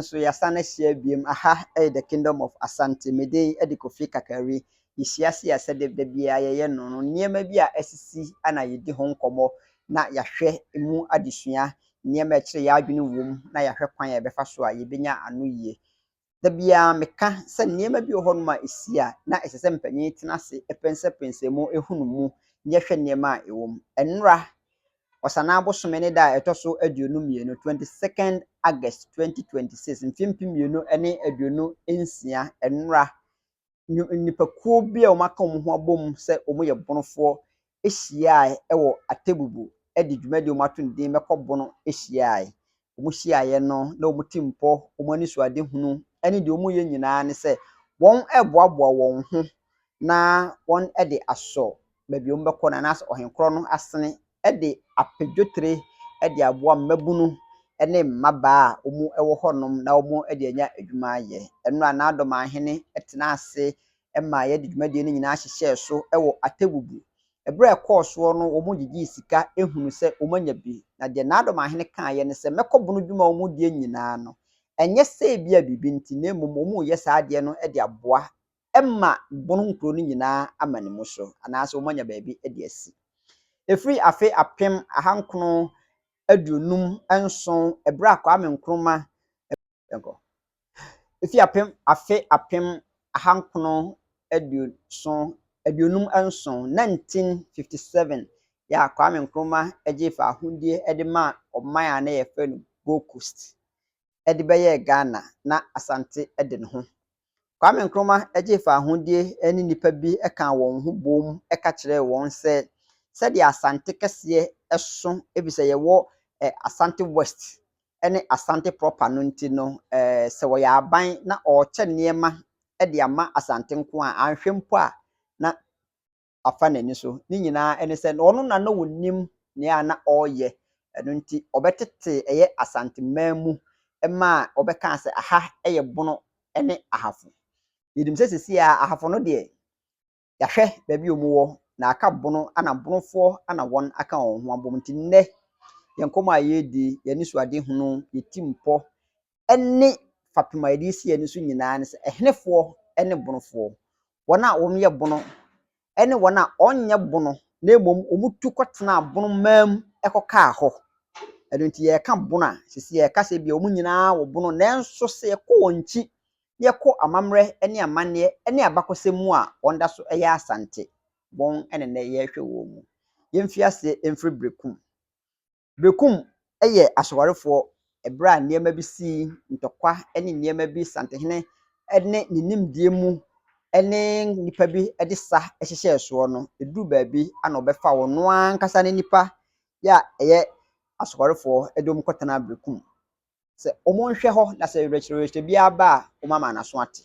nso yɛasan ahyia biom aha ɛyɛ the kingdom of asante me din ɛde kofi kakari yɛhyia se yɛ sɛ de da biara yɛyɛ no no nneɛma bi a asisi ana yɛdi ho nkɔmmɔ na yɛahwɛ mu adesua nneɛma ɛkyerɛ yɛ adwene wom na yɛahwɛ kwan a yɛbɛfa so a yɛbɛnya ano yie Da biara meka sɛ nneɛma bi wɔ hɔnom a esi a na ɛsɛ sɛ mpanyin tena ase pɛnsɛpɛnsɛ mu hu no mu na yɛhwɛ nneɛma a ɛwɔ mu. Nnora, Ɔsanaa bosome ne da a ɛtɔ so aduonu mmienu, 22nd August 2026, mfe mpem mmienu ne aduonu nsia, nnora, nnipakuo bi a wɔaka wɔn ho abom sɛ wɔyɛ Bonofoɔ hyiaeɛ wɔ Atebubu de dwumadie a wɔato no din Mɛkɔ Bono hyiaeɛ. Wɔhyiaeɛ no, na wɔn ti mpɔ, wɔn anisoadehunu ne deɛ wɔreyɛ nyinaa ne sɛ wɔreboaboa wɔn ho na wɔde asɔ baabi a wɔbɛkɔ no anaasɛ Ɔhenkorɔ no asene de apɛ dwetire de aboa mmabunu ne mmabaa a wɔwɔ hɔnom na wɔde anya adwuma ayɛ. Ɛno na n'adɔmahene tenaa ase ma yɛde dwumadie no nyinaa hyehyɛɛ so wɔ Atebubu. Berɛ a ɛkɔɔ soɔ no, wɔgyegyee sika hunuu sɛ wɔanya bi. Na deɛ n'adɔmahene kaeɛ ne sɛ, mɛkɔbono dwuma a wɔdie nyinaa ano. Ɛnyɛ sɛ ebia biribi nti, na mmom wɔreyɛ saa adeɛ no de aboa ma Bon nkuro no nyinaa ama ne mu so, anaasɛ wɔanya baabi de asi. Ɛfiri afe apem ahankono aduonum nson ɛberɛ a Kwame Nkrumah, yɛnkɔ, ɛfiri apem, afe apem ahankono aduoson, aduonum nson, 1957, yɛ a Kwame Nkrumah gyee faahodie de maa ɔman a na yɛfrɛ no Gold Coast de bɛyɛɛ Ghana na Asante de ne ho Kwame Nkrumah gyee fawohodie ne nnipa bi kaa wɔn ho boom ka kyerɛɛ wɔn sɛ sɛdeɛ Asante kɛseɛ so efisɛ yɛwɔ Asante West ne Asante proper no nti no sɛ ɔyɛ aban na ɔrekyɛ nneɛma de ama Asante nko a anhwɛ mpo a na afa n'ani so. Ne nyinaa ne sɛ, na ɔno na na ɔnim nea na ɔreyɛ. Ɛno nti, ɔbɛtetee ɛyɛ Asanteman mu ma ɔbɛkaa sɛ, aha yɛ Bono ne Ahafo. Yɛnim sɛ seesei ara Ahafo no deɛ, yɛahwɛ baabi a wɔwɔ, na aka Bono, ɛnna Bonofoɔ na wɔaka wɔn ho abom. Nti nnɛ, yɛn nkɔmmɔ a yɛredi, yɛn anisoadehunu, yɛn tirimpɔ, ne fapem a yɛde asi ani so nyinaa ne sɛ, ɛhenefoɔ ne bonofoɔ? Wɔn a wɔyɛ bono ne wɔn a wɔnyɛ bono na mmom wɔtu kɔtenaa bonomaa mu kɔkaa hɔ. Ɛno nti yɛreka bono a, ɛsɛ sɛ yɛka sɛ ebia wɔn nyinaa wɔ bono nanso sɛ yɛkɔ wɔn akyi na yɛkɔ amammerɛ ne amanneɛ ne abakɔsɛm mu a, wɔda so yɛ Asante. Wɔn na nnɛ yɛrehwɛ wɔn mu. Yɛmfiri aseɛ mfiri Berekum. Berekum yɛ asowarefoɔ ɛberɛ a nneɛma bi si, ntɔkwa ne nneɛma bi, Santehene ne ne nimdeɛ mu ne nnipa bi de sa hyehyɛɛ soɔ no, ɛduru baabi a na ɔbɛfa wɔn ankasa ne nnipa yɛ a ɛyɛ asowarefoɔ de wɔn kɔtenaa Berekum sɛ wɔnhwɛ hɔ na sɛ werɛkyerɛwerɛkyerɛ biara ba a wɔama n'aso ate.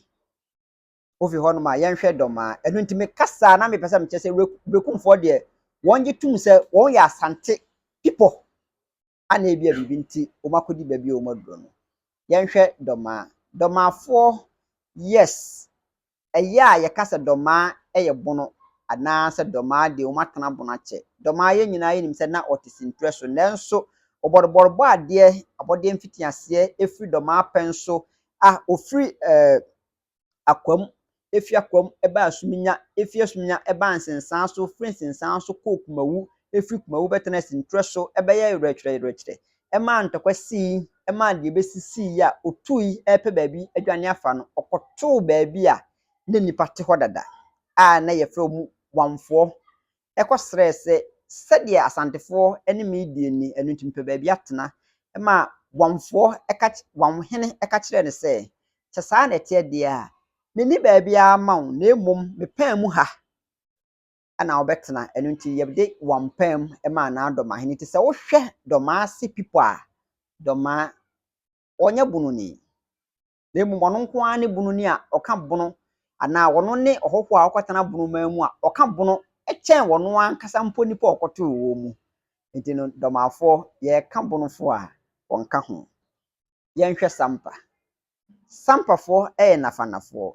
Wofi hɔnom a, yɛnhwɛ dɔm a. Ɛno nti mekasa a, na mepɛ sɛ mekyerɛ sɛ Were- Werekumfoɔ deɛ, wɔgye tom sɛ wɔyɛ Asante pipɔ a na ebia biribi nti wɔakɔdi baabi a wɔaduro no. Yɛnhwɛ Dɔmaa. Dɔmaafoɔ, yes, ɛyɛ a yɛka sɛ Dɔmaa yɛ Bono anaasɛ Dɔmaa deɛ wɔatena Bono akyɛ. Dɔmaa yɛn nyinaa yɛnim sɛ na ɔte Senture so nanso Ɔbɔdobɔro bɔ adeɛ, abɔdeɛ mfitiaseɛ firi Dɔmaa pɛn so a ɔfiri eh, akoa mu, efi akoa mu ba asuminya, efi asuminya ba nsensan so, firi nsensan so kɔɔ kumawu, firi kumawu bɛtenaa sintwerɛ so, ɛbɛyɛɛ werɛkyerɛyerɛkyerɛ, ɛmaa ntɔkwa sii, ɛmaa deɛ ɛbɛsi sii yi a ɔtuui repɛ baabi adwane afa no, ɔkɔtoo baabi a na nnipa te hɔ dada a na yɛfrɛ wɔn Wamfoɔ kɔsrɛɛ sɛ sɛdeɛ Asantefoɔ ne me di nni, ɛno nti mepɛ baabi atena. Ɛma Wamfoɔ ka Wamhene ka kyerɛɛ no sɛ, Sɛ saa na ɛteɛ deɛ a, menni baabiara ma wo, na mmom me paa mu ha na wobɛtena. Ɛno nti yɛde Wam paa mu maa no ara Dɔmahene nti sɛ wohwɛ Dɔmaase people a, Dɔmaa ɔnyɛ bononi. na mmom ɔno nko ara ne bono ni a ɔka bono, anaa ɔno ne ɔhɔhoɔ a ɔkɔtena bono man mu a ɔka bono kyɛn ɔno ankasa mpo nnipa a ɔkɔtoo wɔn mu. Nti no, dɔmafoɔ, yɛreka bonofoɔ a, wɔnka ho. Yɛnhwɛ Sampa. Sampafoɔ yɛ Nafanafoɔ.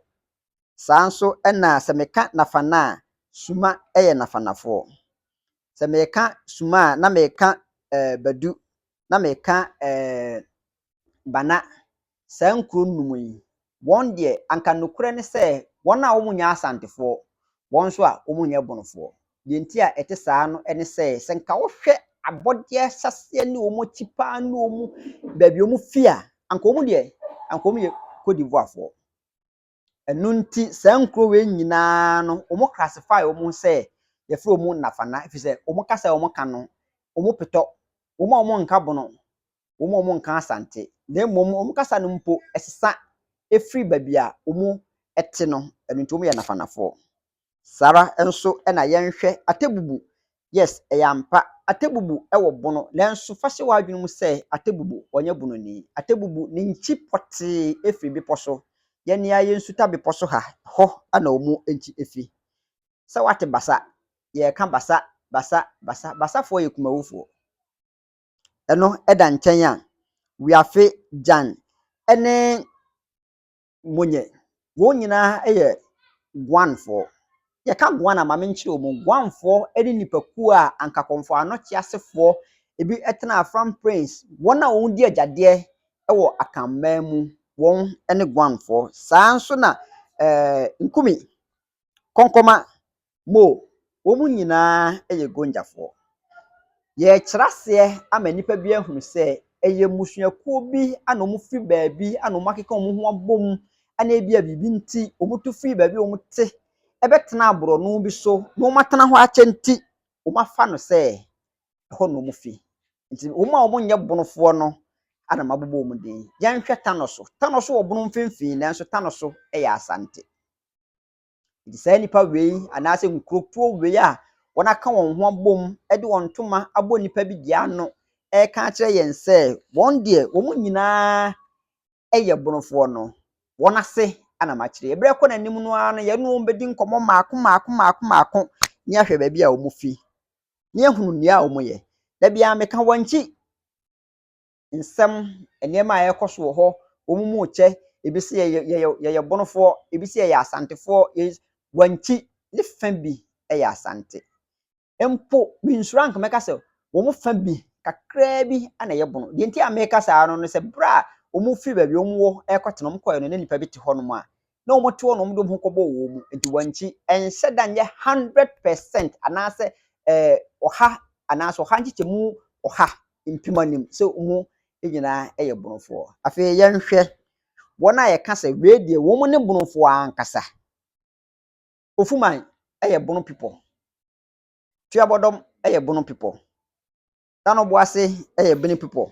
Saa nso na sɛ meka Nafana a, Suma yɛ Nafanafoɔ. Sɛ meka Suma a, na meka eh, Badu, na meka eh, Bana, saa nkuro nnum yi, wɔn deɛ anka nokorɛ ne sɛ wɔn a wɔnyɛ Asantefoɔ, wɔn nso a wɔnyɛ Bonofoɔ. Deɛ nti a ɛte saa no ne sɛ, sɛ nka wohwɛ abɔdeɛ ahyɛaseɛ ne wɔn akyi pa ara ne wɔn baabi a wɔfiri a, anka wɔn deɛ, anka wɔyɛ Cote d'Ivoirefoɔ. Ɛno nti saa nkuro wei nyinaa no wɔn classify wɔn ho sɛ yɛfrɛ wɔn Nnafana ɛfiri sɛ wɔn kasa a wɔka no wɔn petɔ wɔn a wɔn nka Bono wɔn a wɔn nka Asante na mmom wɔn kasa no mpo ɛsesa ɛfiri baabi a wɔn ɛte no ɛno nti wɔn yɛ Nnafanafoɔ. Saa ara nso na yɛnhwɛ Atebubu. Yes, ɛyɛ ampa, Atebubu wɔ bono, nanso fa hyɛ w'adwene mu sɛ Atebubu, ɔnyɛ bononi. Atebubu, ne nkyi pɔtee firi bepɔ so. Yɛn ni ara yɛ Nsuta bepɔ so ha, hɔ na wɔn nkyi firi. Sɛ woate Basa, yɛreka Basa, Basa, Basa. Basafoɔ yɛ Kumawufoɔ. Ɛno da nkyɛn a, Wiafe, Gyan ne monyɛ. Wɔn nyinaa yɛ Guanfoɔ. Yɛka Guan a, ma menkyerɛ wɔn. Guanfoɔ ne nnipakuo a anka Kɔmfoano teasefoɔ ebi tena Afram Prince, wɔn a wɔdi agyadeɛ wɔ Akanman mu, wɔn ne Guanfoɔ. Saa ara nso na ɛɛ Nkumi, Kɔnkɔma, Mo, wɔn nyinaa yɛ Gonjafoɔ. Yɛrekyerɛ aseɛ ama nnipa bi ahunu sɛ ɛyɛ mmusuakuo bi a na wɔfiri baabi a na wɔakeka wɔn ho abom na ebia biribi nti wɔtu firi baabi a wɔte bɛtenaa borɔno bi so na wɔatena hɔ akyɛ nti, wɔafa no sɛ ɛhɔ na wɔfi. Nti wɔn a wɔnyɛ bonofoɔ no na mabobɔ wɔn din. Yɛnhwɛ Tanoso. Tanoso wɔ bono mfimfini nanso Tanoso yɛ Asante. Enti saa nnipa wei anaasɛ nkurotoɔ wei a wɔaka wɔn ho abom de wɔn ntoma abɔ nnipa bi deɛ ano reka akyerɛ yɛn sɛ wɔn deɛ wɔn nyinaa yɛ bonofoɔ no, wɔn ase na makyerɛ. Ɛberɛ kɔ n'anim no ara no, yɛne wɔn bɛdi nkɔmmɔ mmaako mmaako mmaako mmaako ne ahwɛ baabi a wɔfi, ne ahunu nea wɔyɛ. Da biara meka wɔn akyi. nsɛm, nneɛma a ɛrekɔ so wɔ hɔ, wɔn mu rekyɛ, ebi se yɛyɛ yɛyɛ yɛyɛ Bonofoɔ, ebi se yɛyɛ Asantefoɔ, yei Wankyi ne fã bi yɛ Asante. Mpo mensuro a anka mɛka sɛ wɔn fã bi kakraa bi na ɛyɛ Bono. Deɛ nti a mereka saa no ne sɛ berɛ a wɔfiri baabi a wɔwɔ rekɔtena no, wɔkɔeɛ no na nnipa bi te hɔnom a na wɔte hɔ na wɔde wɔn ho kɔbɔɔ wɔn mu, nti wɔnkyi. Ɛnhyɛ da nyɛ hundred percent anaasɛ ɛɛ ɔha anaasɛ ɔha nkyekyɛmu ɔha mpem anim sɛ wɔn nyinaa yɛ Bonofoɔ. Afei yɛnhwɛ wɔn a yɛka sɛ wei deɛ wɔn ne Bonofoɔ ankasa. Ofuman yɛ Bono pipɔ, Tuabɔdɔm yɛ Bono pipɔ, Danoboase yɛ Bini pipɔ,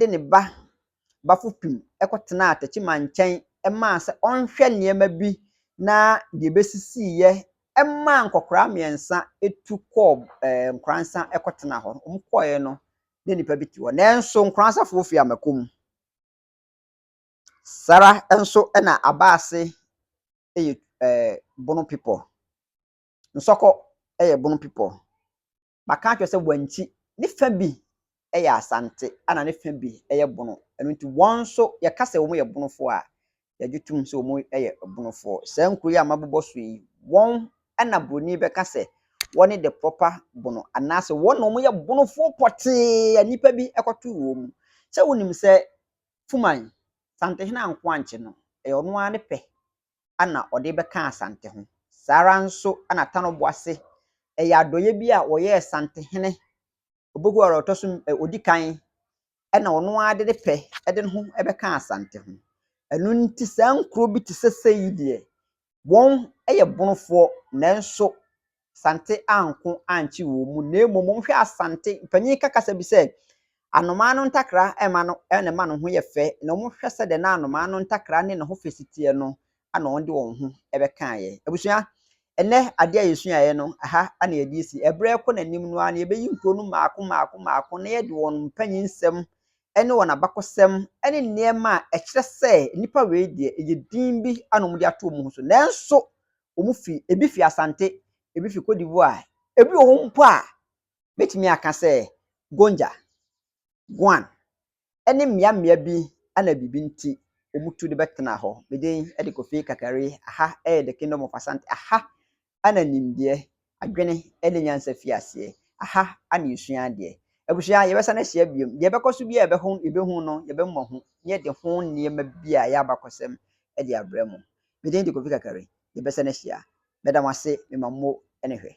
de ne ba Bafupim kɔtenaa Techiman nkyɛn maa sɛ ɔnhwɛ nneɛma bi na deɛ ɛbɛsisiiɛ maa nkɔkoraa mmiɛnsa tu kɔɔ ɛɛ Nkoransa kɔtenaa hɔ. Wɔn kɔeɛ no, na nnipa bi te hɔ. Nanso Nkoransafoɔ firi amako mu. Sara nso na Abaase yɛ ɛɛ Bono people. Nsɔkɔ yɛ Bono people. Maka akyerɛ sɛ wɔnkyi, ne fã bi yɛ Asante ɛna ne fã bi yɛ Bono, ɛno nti wɔn nso yɛka sɛ wɔyɛ Bonofoɔ a, yɛgye tom sɛ wɔyɛ Bonofoɔ. Saa nkuro yi a mabobɔ so yi, wɔn na Buroni bɛka sɛ wɔne the proper Bono anaasɛ wɔn na wɔyɛ Bonofoɔ pɔtee a nnipa bi kɔtoo wɔn mu. Sɛ wonim sɛ Fuman, Santehene anko ankye no, ɛyɛ ɔno ara ne pɛ na ɔde bɛka Asante ho. Saa ara nso na Tanoboase, ɛyɛ adɔeɛ bi a wɔyɛɛ Santehene Oboguaro a ɔtɔ so ɔdi kan na ɔno ara de ne pɛ de ne ho bɛkaa Asante ho. Ɛno nti saa nkuro bi te sɛ sei deɛ, wɔyɛ Bonofoɔ nanso Asante anko ankye wɔn mu, na mmom wɔhwɛ Asante, mpanyin ka kasa bi sɛ, Anomaa no ntakra mma no na ɛma ne ho yɛ fɛ, na wɔhwɛ sɛdeɛ na anomaa no ntakra ne ne ho fɛ si teɛ no na wɔde wɔn ho bɛkaeɛ. Abusua, ɛnnɛ adeɛ a yɛsuaeɛ no, ɛha na yɛde asi. Ɛberɛ rekɔ n'anim no ara no, yɛbɛyi nkuro no mmaako mmaako mmaako na yɛde wɔn mpanyinsɛm ne wɔn abakɔsɛm ne nneɛma a ɛkyerɛ sɛ nnipa wei deɛ, ɛyɛ din bi na wɔde ato wɔn ho so. Nanso, wɔn fi, ebi fi Asante, ebi fi Cote d'Ivoire, ebi wɔ hɔ mpo a mɛtumi aka sɛ Gonja, Guan, ne mmea mmea bi a na biribi nti wɔtu de bɛtena hɔ. Me din de Kofi Kakari, aha yɛ The Kingdom of Asante, aha na nimdeɛ Adwene ne nyansa fi aseɛ. Aha na yɛsua adeɛ. Abusua, yɛbɛsan ahyia bio. Deɛ ɛbɛkɔ so biara a yɛbɛho, yɛbɛhu no, yɛbɛmmɔ ho, na yɛde ho nneɛma bi a ɛyɛ abakɔsɛm de abrɛ mo. Me din de Kofi Kakari. Yɛbɛsan ahyia. Mɛda mo ase. Mema mo ani hwɛ.